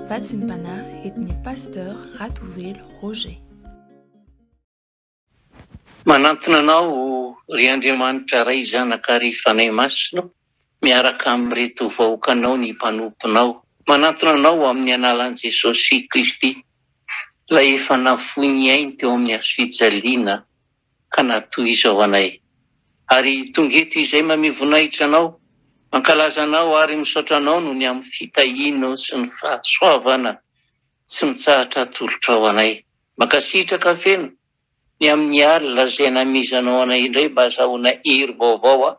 Vatsimpanahy Etnia Pasteur Ratovelo Roger. Manantona anao ry Andriamanitra Ray Zanaka ary Fanahy Masina miaraka amin'ireto vahoakanao ny mpanomponao. Manantona anao amin'ny analan'i Jesosy Kristy Ilay efa nafoy ny ainy teo amin'ny hazo fijaliana ka na toy izao anay. Ary tonga eto izay mamia voninahitra Anao, mankalaza Anao ary misaotra Anao noho ny amin'ny fitahianao sy ny fahasoavana tsy mitsahatra atolotrao anay. Mankasitraka feno ny amin'ny alina izay namezanao anay indray mba hazahoana hery vaovao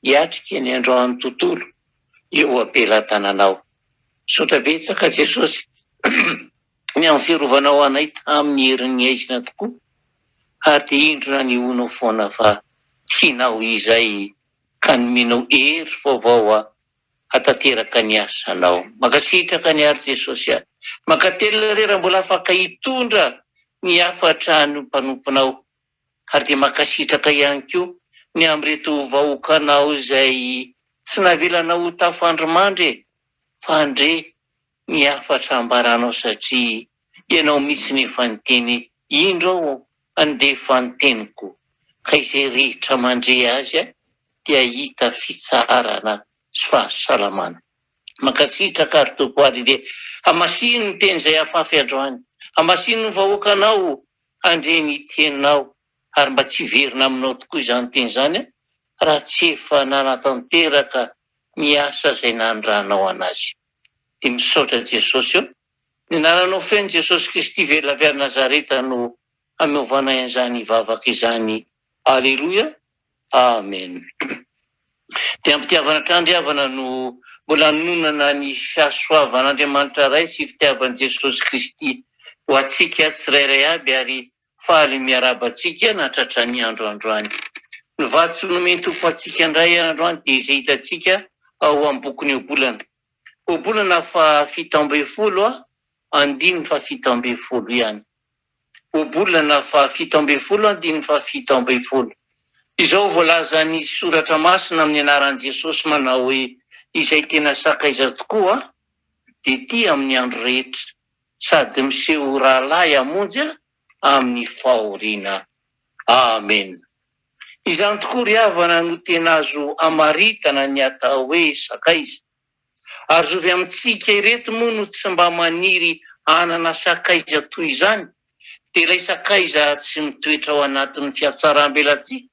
hiatrika ny androany tontolo eo am-pelatananao. Misaotra betsaka Jesosy. Ny amin'ny firovanao anay tamin'ny herin'ny haizina tokoa, ary dia indro nanehoanao foana fa tianao izay ka nomenao hery vaovao aho hatanteraka ny asanao. Mankasitraka ny Ary Jesosy a! Mankatelina re raha mbola afaka hitondra ny hafatra ny mpanomponao, ary dia mankasitraka ihany koa ny amin'ireto vahoakanao izay tsy navelanao ho tafandrimandry e! Fa andre ny hafatra ambaranao satria ianao mitsiny efa niteny indro aho handefa ny teniko ka izay rehetra mandre azy dia hahita fitsaharana sy fahasalamana. Mankasitraka ary Tompo ary dia hamasino ny teny izay afafy androany, hamasino ny vahoakanao handre ny teninao ary mba tsy hiverina aminao tokoa izany teny izany raha tsy efa nanatanteraka ny asa izay nanirahanao anazy. dia misaotra Jesosy ô. Ny anaranao feno Jesosy Kristy very lavy any Nazareta no hameovanay an'izany vavaka izany Aleloia Amen. Dia am-pitiavana tandriavana no mbola hanononana ny fahasoavan'Andriamanitra Ray sy fitiavan'i Jesosy Kristy ho antsika tsirairay aby ary Faly miarahaba antsika nahatratra ny andro androany. Ny vatsy nomen Tompo antsika indray androany dia izay hitantsika ao am bokin Eobolana. Obolana faha fito ambin'ny folo a, andininy faha fito ambin'ny folo ihany. Obolana faha fito ambin'ny folo andininy faha fito ambin'ny folo. Izao voalazan ny soratra masina amin ny anaran Jesosy manao hoe izay tena sakaiza tokoa dia tia amin ny andro rehetra. sady miseho ho rahalahy hamonjy ahy amin'ny fahoriana. Amena. Izany tokoa ry havana no tena azo amaritana ny atao hoe sakaiza. Ary zovy amintsika ireto moa no tsy mba maniry hanana sakaiza toy izany, dia ilay sakaiza tsy mitoetra ao anatin'ny fiatsaram-belatsihy,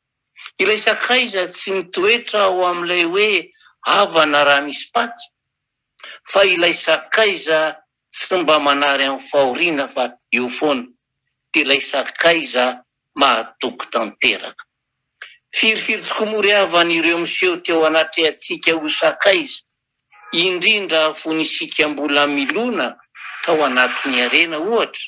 ilay sakaiza tsy mitoetra ao amin'ilay hoe havana raha misy patsa, fa ilay sakaiza Tsy mba manary amin'ny fahoriana fa eo foana, dia ilay sakaiza mahatoky tanteraka. Firifiry tokoa moa re havana ireo miseho teo anatrehantsika ho sakaiza, indrindra fony isika mbola milona tao anatin'ny harena ohatra?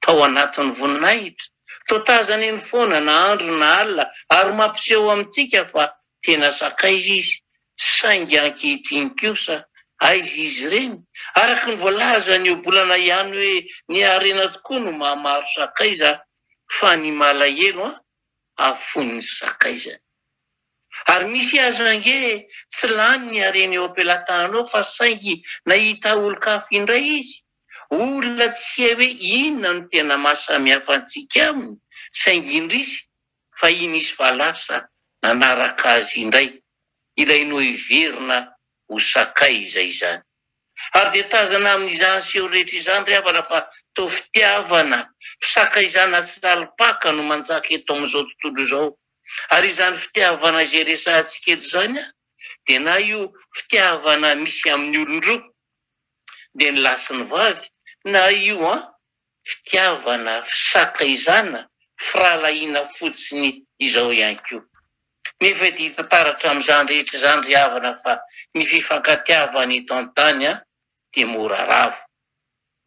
tao anatin'ny voninahitra. Toa tazany eny foana na andro na alina ary mampiseho amintsika fa tena sakaiza izy. Saingy ankehitriny kosa, aiza izy ireny? Araka ny voalaza ny ohabolana ihany hoe ny harena tokoa no mahamaro sakaiza fa ny malahelo an! afoin'ny sakaizany. Ary misy aza ange tsy lany ny hareny eo am-pelatananao fa saingy nahita olon-kafa indray izy. Olona tsy hay hoe inona no tena maha samy hafa antsika aminy, saingy indrisy fa i nisy fa lasa nanaraka azy indray ilay noheverina ho sakay izay izany. Ary dia tazana amin'izany seho rehetra izany ry havana fa toa fitiavana, fisakaizana tsy lalim-paka no manjaka eto amin'izao tontolo izao. Ary izany fitiavana izay resahantsika eto izany dia na io fitiavana misy amin'ny olon-droa dia ny lahy sy ny vavy, na io an, fitiavana, fisankahizana, firahalahiana fotsiny izao ihany koa. Nefa dia hita taratra amin'izany rehetra izany ry havana fa ny fifankatiavana eto an-tany an, dia mora rava,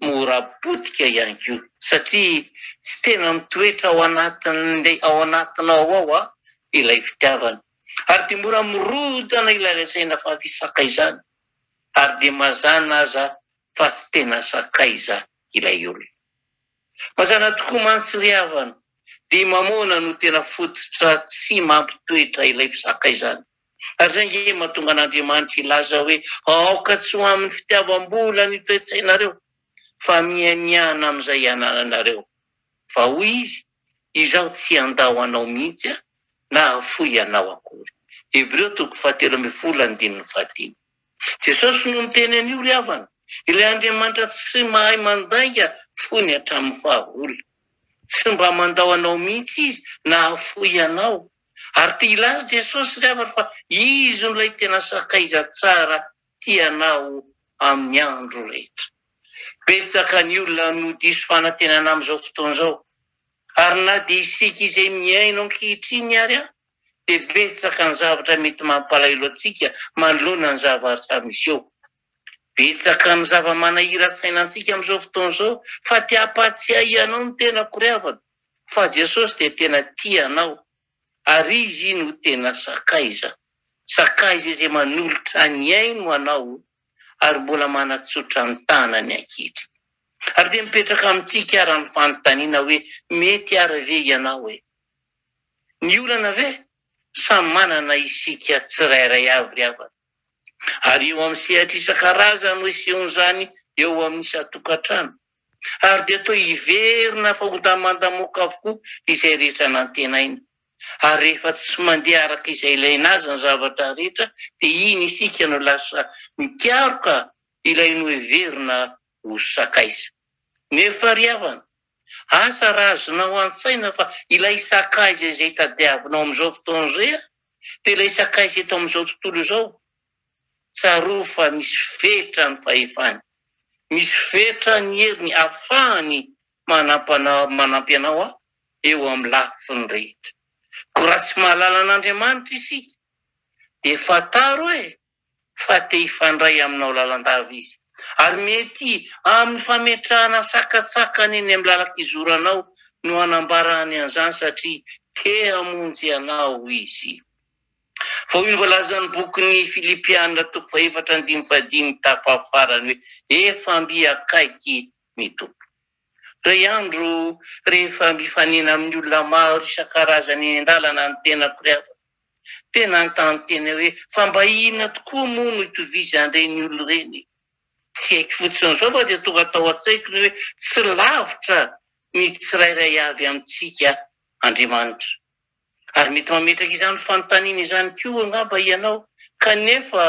mora potika ihany koa, satria tsy tena mitoetra ao anatin'ilay ao anatinao ao an, ilay fitiavana, ary dia mora mirodana ilay lazaina fa fisankahizana. ary dia mazana aza fa tsy tena sakaiza ilay olona. Mazana tokoa mantsy ry havana, dia mamoana no tena fototra tsy mampitoetra ilay fisakaizana, ary izay ange mahatonga an'Andriamanitra hilaza hoe aoka tsy ho amin'ny fitiavam-bola ny toe-tsainareo, fa mianiana amin'izay anananareo, fa hoy Izy, Izaho tsy handà ho anao mihitsy aho, na hahafoy anao akory. Hebreo toko fahatelo ambin'ny folo andininy fahadimy. Jesosy no niteny an'io ry havana, ilay Andriamanitra tsy mahay mandainga fony hatramin'ny fahagola. Tsy mba mandao anao mihitsy Izy na hahafoy anao. Ary te hilaza Jesosy ry havana fa Izy no ilay tena sakaiza tsara tia anao amin'ny andro rehetra. Betsaka ny olona no diso fanantenana amin'izao fotoana izao, ary na dia isika izay mihaino ankehitriny ary dia betsaka ny zavatra mety mampalahelo antsika manoloana ny zavatra miseho. Betsaka ny zava-manahiran-tsaina antsika amin'izao fotoana izao, fa te-hampahatsiahy anao ny tenako ry havana, fa Jesosy dia tena tia anao. Ary izy no tena sakaiza. Sakaiza izay manolotra ny ainy ho anao ary mbola manatsotra ny tanany ankehitriny. Ary dia mipetraka amintsika ara ny fanontaniana hoe mety ara ve ianao e? Ny olana ve? Samy manana isika tsirairay avy ry havana. Ary eo amin'ny sehatra isan-karazany no isehoan'izany eo amin'ny isan-tokantrano. ary dia toa hiverina fahontaman-damoaka avokoa izay rehetra nantenaina. Ary rehefa tsy mandeha araka izay ilaina azy ny zavatra rehetra, dia iny isika no lasa mikaroka ilay noheverina ho sakaiza. Nefa ry havana, asa raha azonao an-tsaina fa ilay sakaiza izay tadiavinao amin'izao fotoana izay dia ilay sakaiza eto amin'izao tontolo izao, Tsarovy fa misy fetra ny fahefany, misy fetra ny heriny afahany manampy anao eo amin'ny lafiny rehetra. Koa raha tsy mahalala an'Andriamanitra isika dia fantaro hoe fa te hifandray aminao lalandava Izy, ary mety amin'ny fametrahana sakantsakany eny amin'ny lalan-kizoranao no anambarany an'izany satria te hamonjy anao Izy. Vao io voalazan'ny bokin'ny Filipiana toko fahefatra andininy fahadimy tapafarany hoe efa mby akaiky ny Tompo. Indray andro rehefa mifanena amin'ny olona maro isan-karazany eny an-dalana ny tenako ry havana dia nanontany tena hoe fa mba inona tokoa moa no itovizan'ireny olona ireny? Tsy haiko fotsiny izao fa dia tonga tao an-tsaiko ny hoe tsy lavitra ny tsirairay avy amintsika Andriamanitra. Ary mety mametraka izany fanontaniana izany koa angamba ianao, Kanefa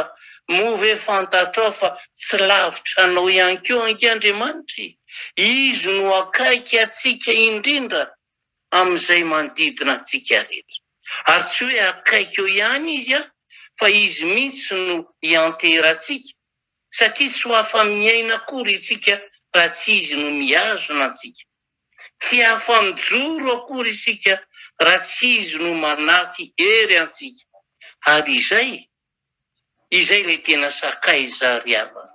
moa ve fantatrao fa tsy lavitra anao ihany koa ange Andriamanitra e? Izy no akaiky antsika indrindra amin'izay manodidina antsika rehetra. Ary tsy hoe akaiky eo ihany Izy an, fa Izy mihitsy no ianteherantsika, satria tsy ho afa-miaina akory isika raha tsy Izy no mihazona antsika. Tsy afa-mijoro akory isika raha tsy Izy no manafy hery antsika. Ary izay, izay ilay tena sakaiza ry havana.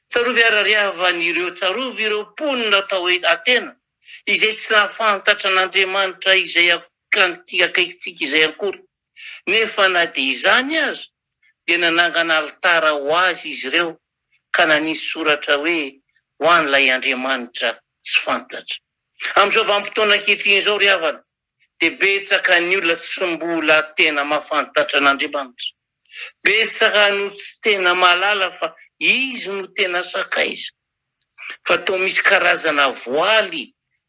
Tsarovy ary ry havana ireo, tsarovy ireo mponina atao hoe Atena, izay tsy nahafantatra an'Andriamanitra izay akaikintsika izay akory. Nefa na dia izany aza, Dia nanangana alitara ho azy izy ireo ka nanisy soratra hoe, Ho an'ilay andriamanitra tsy fantatra. Amin'izao vanim-potoana ankehitriny izao, ry havana, dia betsaka ny olona tsy mbola tena mahafantatra an'Andriamanitra. Betsaka no tsy tena mahalala fa Izy no tena sakaiza. Fa toa misy karazana voaly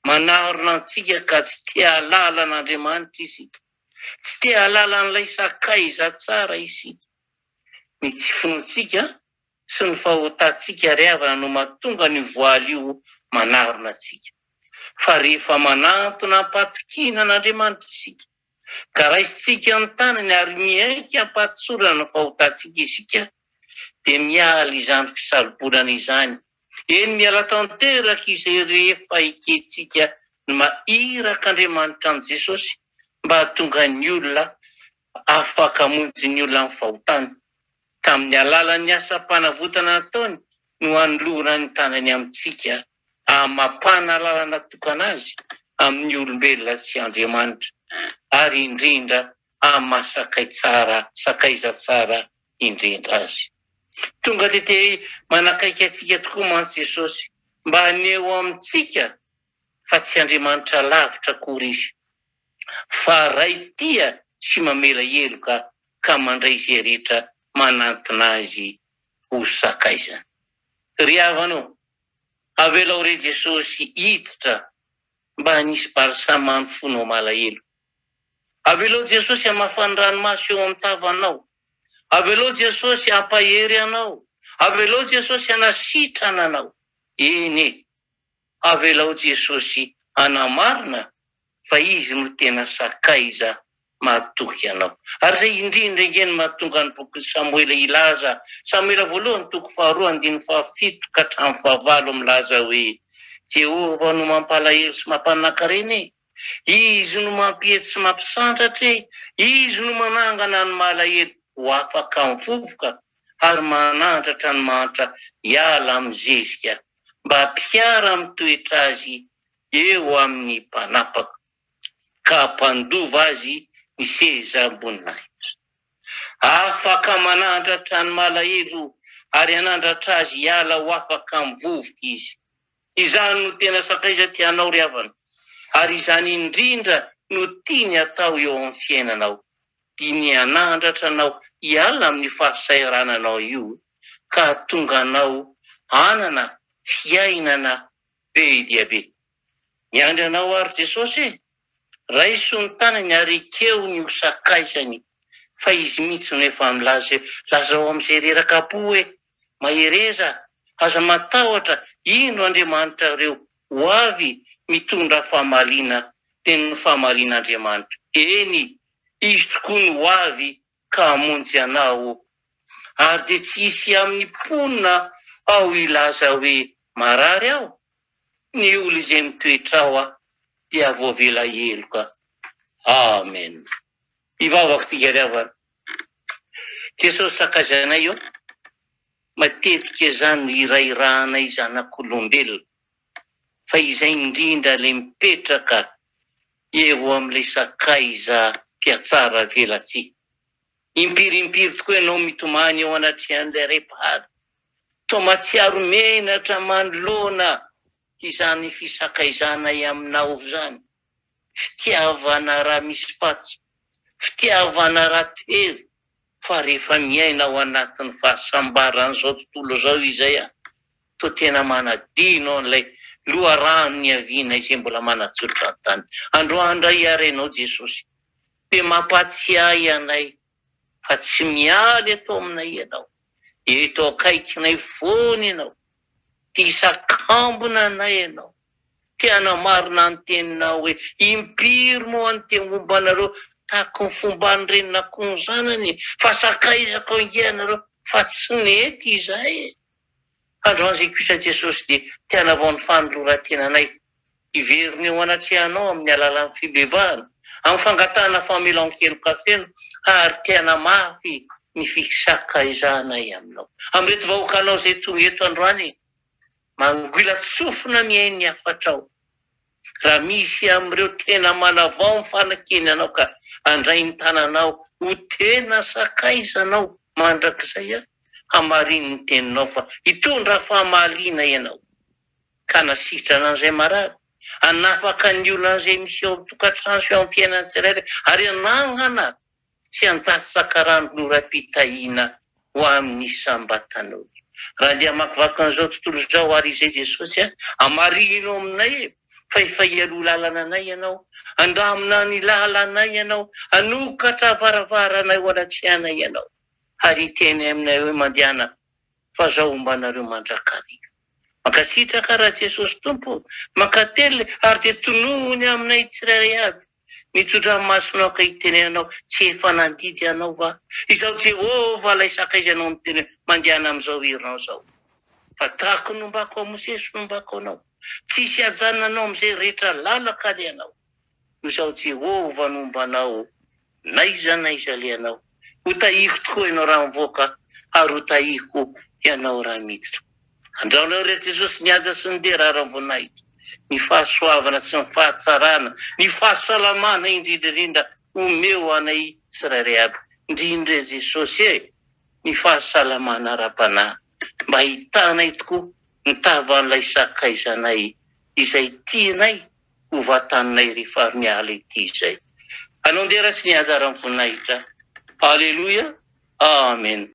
manarona antsika ka tsy te-hahalala an'Andriamanitra isika. Tsy te hahalala an'ilay sakaiza tsara isika. Ny tsy finoantsika sy ny fahotantsika àry havana no mahatonga an'io voaly io manarona antsika. Fa rehefa manantona am-patokiana an'Andriamanitra isika, ka raisintsika ny tanany ary miaiky am-pahatsorana ny fahotantsika isika, dia miala izany fisarobonana izany. Eny, miala tanteraka izay rehefa ekentsika ny maha Irak' Andriamanitra an'i Jesosy mba hahatonga ny olona afaka hamonjy ny olona amin'ny fahotany. Tamin'ny alalan'ny asam-panavotana nataony no anolorany ny tanany amintsika. amam-panana lalana tokana azy amin'ny olombelona sy Andriamanitra, ary indrindra amin'ny maha sakay tsara, sakaiza tsara indrindra azy. Tonga dia te manakaiky antsika tokoa mantsy Jesosy, mba haneho amintsika fa tsy Andriamanitra lavitra akory izy, fa Ray tia sy mamela heloka ka mandray izay rehetra manantona azy ho sakaizany. Ry havana ô! Avelao re Jesosy hiditra mba hanisy balsamano fonao malahelo. Avelao Jesosy hamafan ny ranomaso eo am tavanao. Avelao Jesosy hampahery anao. Avelao Jesosy hanasitrana anao. Eny e. Avelao Jesosy hanamarina fa izy no tena sakaiza mahatoky anao. Ary izay indrindra ange no mahatonga ny bokin'i Samoela hilaza, Samoela voalohany toko faharoa andininy fahafito ka hatramin'ny fahavalo milaza hoe, Jehovah no mampalahelo sy mampanankarena e! Izy no mampiety sy mampisandratra e! Izy no manangana ny malahelo ho afaka mivovoka ary manandratra ny mahantra hiala amin'ny zezika mba mpiara-mitoetra azy eo amin'ny mpanapaka, ka hampandova azy ny sezam-boninahitra. Afaka manandratra ny malahelo ary hanandratra azy hiala ho afaka amin'ny vovoka izy. Izany no tena sakaiza tianao ry havana, ary izany indrindra no tiany hatao eo amin'ny fiainanao. Dinihy hanandratra anao hiala amin'io fahasahirananao io, ka hahatonga anao hanana fiainana Be dia be. Miandry anao ary Jesosy e! Raiso ny tanany ary ekeo ny ho sakaizany fa izy mihitsy no efa milaza hoe, Lazao amin'izay reraka am-po hoe, Mahereza, aza matahotra, indro Andriamanitrareo ho avy mitondra famaliana, dia ny famalian'Andriamanitra, eny, Izy tokoa no ho avy ka hamonjy anao. Ary dia tsy hisy amin'ny mponina ao hilaza hoe, 'Marary aho', ny olona izay mitoetra ao dia voavela heloka. Amen. Hivavaka tsika ry havana. Jesosy sakaizanay eo, matetika izany no hirahirahanay zanak'olombelona. fa izay indrindra le mipetraka eo amle sakaiza mpiatsara avelatsihy impiry impiry tokoa ianao mitomany eo anatrehan'ilay ray mpahary toa matsiaro menatra manoloana izany fisakaizanay aminao izany fitiavana raha misy patsa, fitiavana raha tery fa rehefa miaina ao anatin'ny fahasambaran'izao tontolo izao izay a! toa tena manadino an'ilay loharano niaviana izay mbola manatsotra ny tany. Androany indray hiara Ianao Jesosy, dia mampatsiahy anay fa tsy miala eto aminay Ianao, eto akaikinay foana Ianao, tia sakambina anay Ianao, Te hanamarina ny teninao hoe impiry moa ny te homba anareo tahaka ny fomban'ny renin'akoho ny zanany, fa sakaizako ange ianareo fa tsy nety izay. Androan'izay kosa Jesosy dia te hanavao ny fanoloran-tenanay, hiverina eo anatrehanao amin'ny alalan'ny fibebahana, amin'ny fangatahana famelan-keloka feno ary te hanamafy ny fisakaizanay aminao. Amin'ireto vahoakanao izay tonga eto androany Mangoilan-tsofina mihaino ny hafatrao. Raha misy amin'ireo tena manavao ny fanekeny anao ka handray ny tananao ho tena sakaizanao mandrakizay aho, hamarino ny teninao fa hitondra famaliana ianao, ka hanasitrana an'izay marary, hanafaka ny olana izay miseho ao an-tokantrano sy ao amin'ny fiainan'ny tsirairay, ary hanangana Tsy an-tsaha sakarano noraim-pitahiana ho amin'ny isam-batan'olona. Raha andeha hamakivaky an'izao tontolo izao àry izay Jesosy a, hamarihino aminay fa efa hialoha lalana anay Ianao, handamina ny lalanay Ianao, hanokatra varavaranay ho anatrehanay Ianao, ary hiteny aminay hoe, Mandehana, fa Zaho homba anareo mandrakariva. Mankasitraka Ra Jesosy Tompo, mankatelina ary dia tonohony aminay tsirairay avy. Mitsodrano masonao aho ka hitenenanao, Tsy efa nandidy anao va? Izaho Jehovah, ilay sakaizinao ny teniny, mandehana amin'izao herinao izao. Fa tahaka ny nombako an'i Mosesy no nombako anao, Tsy hisy hajanona anao amin'izay rehetra lalaka alehanao. Noho izaho Jehovah no homba anao, na aiza na aiza alehanao. Ho tahiko tokoa ianao raha mivoaka ary ho tahiko ianao raha miditra. Andraonao irery Jesosy ny haja sy ny dera ary am-boninahitra, ny fahasoavana sy ny fahatsarana, ny fahasalamana indrindra indrindra omeo anay tsirairay aby indrindra e Jesosy e, ny fahasalamana ara-panahy mba hitanay tokoa ny tavan'ilay sakaizanay izay tianay ho vatanay rehefa avy miala ity izay. Hanao ny dera sy ny anjara amin'ny voninahitra. Aleloia. Amen.